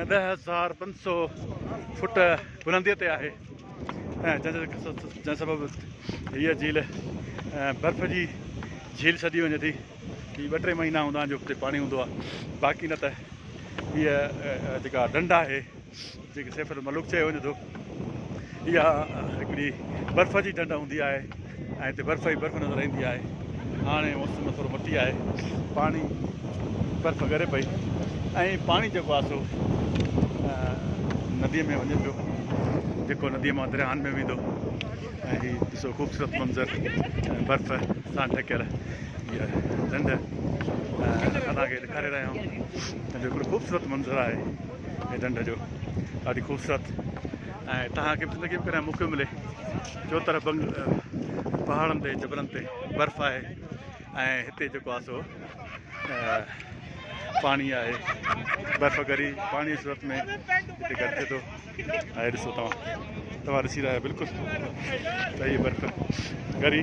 ۽ ڏهه هزار پنج سؤ فوٽ بلنديء تي آهي ۽ جنهن سبب هيء جھيل برف جي جھيل سڏي وڃي ٿي. هي ٻه ٽي مهينا هوندا آهن جو اتي پاڻي هوندو آهي باقي نه ته هيء جيڪا ڍنڍ آهي جنهن کي سيف الملوڪ چيو وڃي ٿو. اها هڪڙي برف جي ڍنڍ هوندي آهي ۽ هتي برف ئي برف نظر ايندي آهي. هاڻي موسم ٿورو مٽي آهي. پاڻي برف ڳري پئي ۽ پاڻي جيڪو آهي سو نديء ۾ وڃي پيو جيڪو نديء مان درياهن ۾ ويندو ۽ هي ڏسو خوبصورت منظر برف سان ڍڪيل اها ڍنڍ اسان کي ڏيکاري رهيا آهيون جو هڪڙو خوبصورت منظر آهي. هي ڍنڍ جو ڏاڍي خوبصورت ۽ تهان کي زندگي ۾ ڪڏهن موقعو ملي جو طرف بنگ پهاڙن تي جبلن تي برف آهي ۽ هتي جيڪو آهي سو پاڻي آهي برف گري پاڻي صورت ۾ هتي گڏ ٿئي ٿو ۽ ڏسو توهان توهان ڏسي رهيا بلڪل صحيح برف گري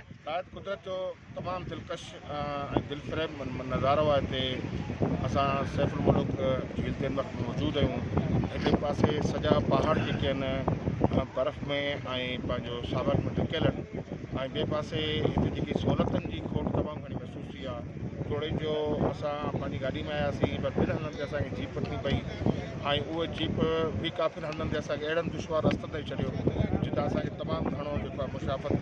نهايت قدرت جو تمام دلڪش ۽ دلفريب نظارو آهي هتي اسان سيف الملوڪ جھيل تي وقت موجود آهيون هڪ پاسي سڄا پهاڙ جيڪي آهن برف ۾ ۽ پنهنجو ساوڪ ۾ ڍڪيل آهن ۽ ٻئي پاسي هتي جيڪي سہولتن جي کوٽ تمام گھڻي محسوس ٿي آهي توڙي جو اسان پنهنجي گاڏي ۾ آياسين پر ٻن هنڌن تي اسانکي جيپ وٺڻي پئي ۽ اهو جيپ به ڪافي هنڌن تي اسانکي اهڙن دشوار رستن تي ڇڏيو جتان اسانکي تمام گھڻو جيڪو آهي مشافت